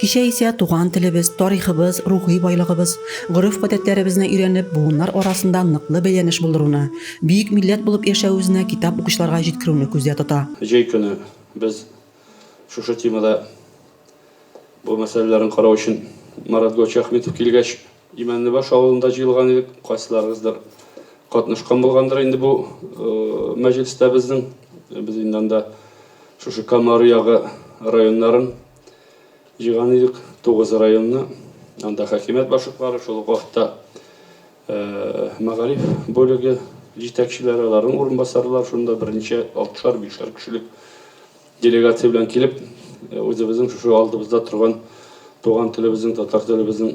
Кичә исә туган телебез, тарихыбыз, рухи байлыгыбыз, гореф-гадәтләребезне өйрәнеп, буыннар арасында ныклы бәйләнеш булдыруны, бөек милләт булып яшәвебезне китап укучыларга җиткерүне күздә тота. Җәй көне без шушы темада бу мәсьәләләрне карау өчен Марат Гочахметов килгәч, Имәнлебаш авылында җыелган идек. Кайсыларыгыздыр катнашкан булгандыр инде бу мәҗлестә безнең. Без инде анда шушы Кама Аръягы районнарын, Җыйган идек тугыз районны. Анда хакимият башлыклары, шул ук вакытта мәгариф бүлеге җитәкчеләре, аларның урынбасарлары шунда берничә алтышар, бишәр кешелек делегация белән килеп, үзебезнең шушы алдыбызда торган туган телебезнең, татар телебезнең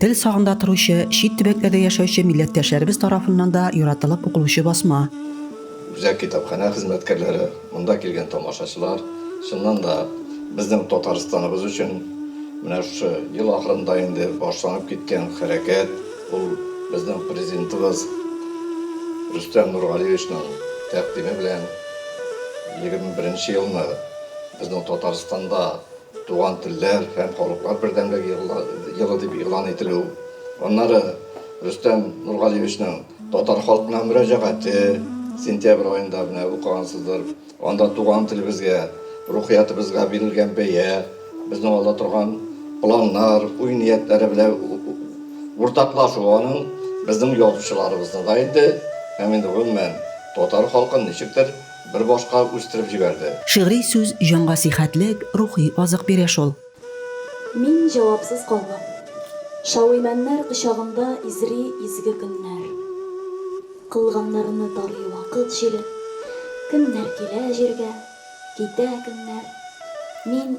Тел сагында торучы, чит төбәкләрдә яшәүче милләттәшләребез тарафыннан да яратылып укылучы басма. Үзәк китапханә хезмәткәрләре, монда килгән тамашачылар, чыннан да, безнең Татарстаныбыз өчен менә шушы ел ахырында инде башланып киткән хәрәкәт, ул безнең Президентыбыз Рөстәм Нургалиевичның тәкъдиме белән егерме беренче елны безнең Татарстанда Туган телләр һәм халыклар бердәмлеге елы дип игълан ителү, аннары Рөстәм Нургалиевичның татар халкына мөрәҗәгате, сентябрь аенда менә укыгансыздыр, анда туган телебезгә, рухиятыбызга бирелгән бәя, безнең алда торган планнар, уй-ниятләре белән уртаклашу аның безнең язучыларыбызны да инде һәм инде гомумән татар халкын ничектер Бер башка үстереп җибәрде. Шигъри сүз җанга сихәтлек, рухи азык бирә шул. Мин җавапсыз калдым. Шауимәннәр кочагында изри изге көннәр. Кылганнарны тарый вакыт җиле. Көннәр килә җиргә, китә көннәр. Мин.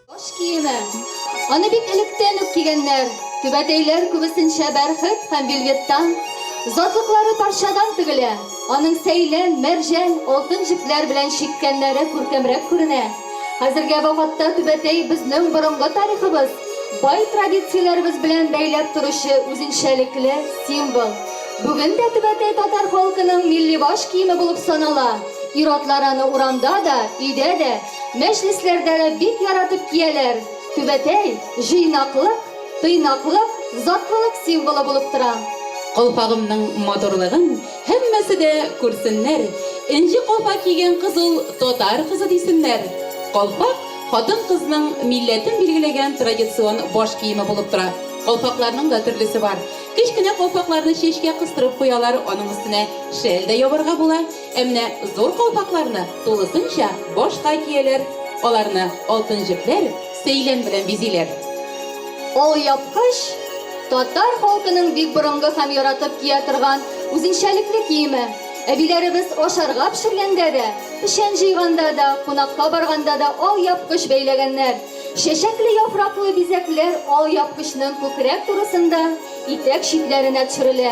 Баш киеме. Аны бик электән үк кигәннәр. Түбәтәйләр күбесенчә бәрхет һәм вельветтан, затлыклары парчадан тегелә. Аның сәйлән, мәрҗән, алтын җепләр белән чиккәннәре күркәмрәк күренә. Хәзергә вакытта түбәтәй безнең борынгы тарихыбыз, бай традицияләребез белән бәйләп торучы үзенчәлекле символ. Бүген дә түбәтәй татар халкының милли баш киеме булып санала. Ир-атлар аны урамда да, өйдә дә, Мәҗлесләрдә дә бик яратып кияләр. Түбәтәй, җыйнаклык, тыйнаклык, затлылык символы булып тора. Калфагымның матурлыгын һәммәсе дә күрсеннәр, энҗе калфак кигән кыз ул татар кызы дисеннәр. Калфак, хатын-кызның милләтен билгеләгән традицион баш киеме булып тора. Калфакларның да төрлесе бар. Кечкенә калфакларны чәчкә кыстырып куялар, аның өстенә шәл дә ябарга була. Ә менә зур калфакларны тулысынча башка кияләр. Аларны алтын җепләр, сәйлән белән бизиләр. Алъяпкыч, татар халкының бик борынгы һәм яратып кия торган үзенчәлекле киеме. Әбиләребез ашарга пешергәндә дә, печән җыйганда да, кунакка барганда да алъяпкыч бәйләгәннәр. Чәчәкле яфраклы бизәкләр алъяпкычның күкрәк турысында, итәк читләренә төшерелә.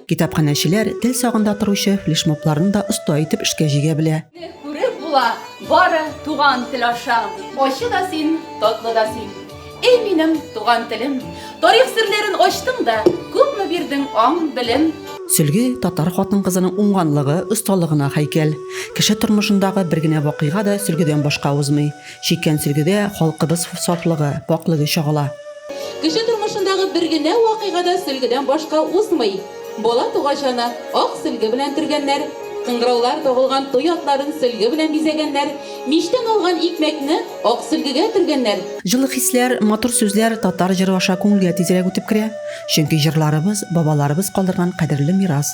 Китапханәчеләр тел сагында торучы флешмобларны да оста итеп эшкә җигә белә. Күреп була, бары туган тел аша. Ачы да син, татлы да син. Эй минем туган телем. Тарих серләрен ачтың да, күпме бирдең аң, белем. Сөлге, татар хатын-кызының уңганлыгы, осталыгына һәйкәл. Кеше тормышындагы бер генә вакыйга да сөлгедән башка узмый. Чиккән сөлгегә халкыбыз сафлыгы, пакьлеге чагыла. Кеше тормышындагы бер генә вакыйга да сөлгедән башка узмый. Бала тугач аны ак сөлге белән төргәннәр, кыңгыраулар тагылган туй атларын сөлге белән бизәгәннәр, мичтән алган икмәкне ак сөлгегә төргәннәр. Җылы хисләр, матур сүзләр татар җыры аша күңелгә тизрәк үтеп керә, чөнки җырларыбыз, бабаларыбыз калдырган кадерле мирас.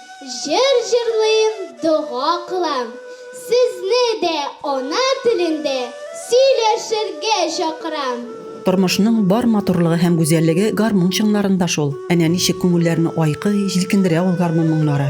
Җыр җырлыйм, дога кылам. Сезне дә ана телендә сөйләшергә чакырам. Тормышның бар матурлыгы һәм гүзәллеге гармун чыңнарында шул. Әнә ничек күңелләрне айкый, җилкендерә ул гармун моңнары.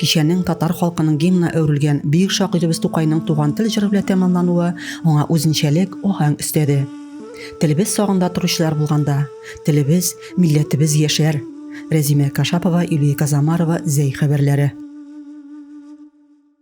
Кичәнең татар халкының гимнына әверелгән бөек шагыйребез Тукайның туган тел җыры белән тәмамлануы аңа үзенчәлек аһәң өстәде. Телебез сагында торучылар булганда, телебез, милләтебез яшәр. Рәзимә Кашапова, Юлия Казамарова, Зәй хәбәрләре.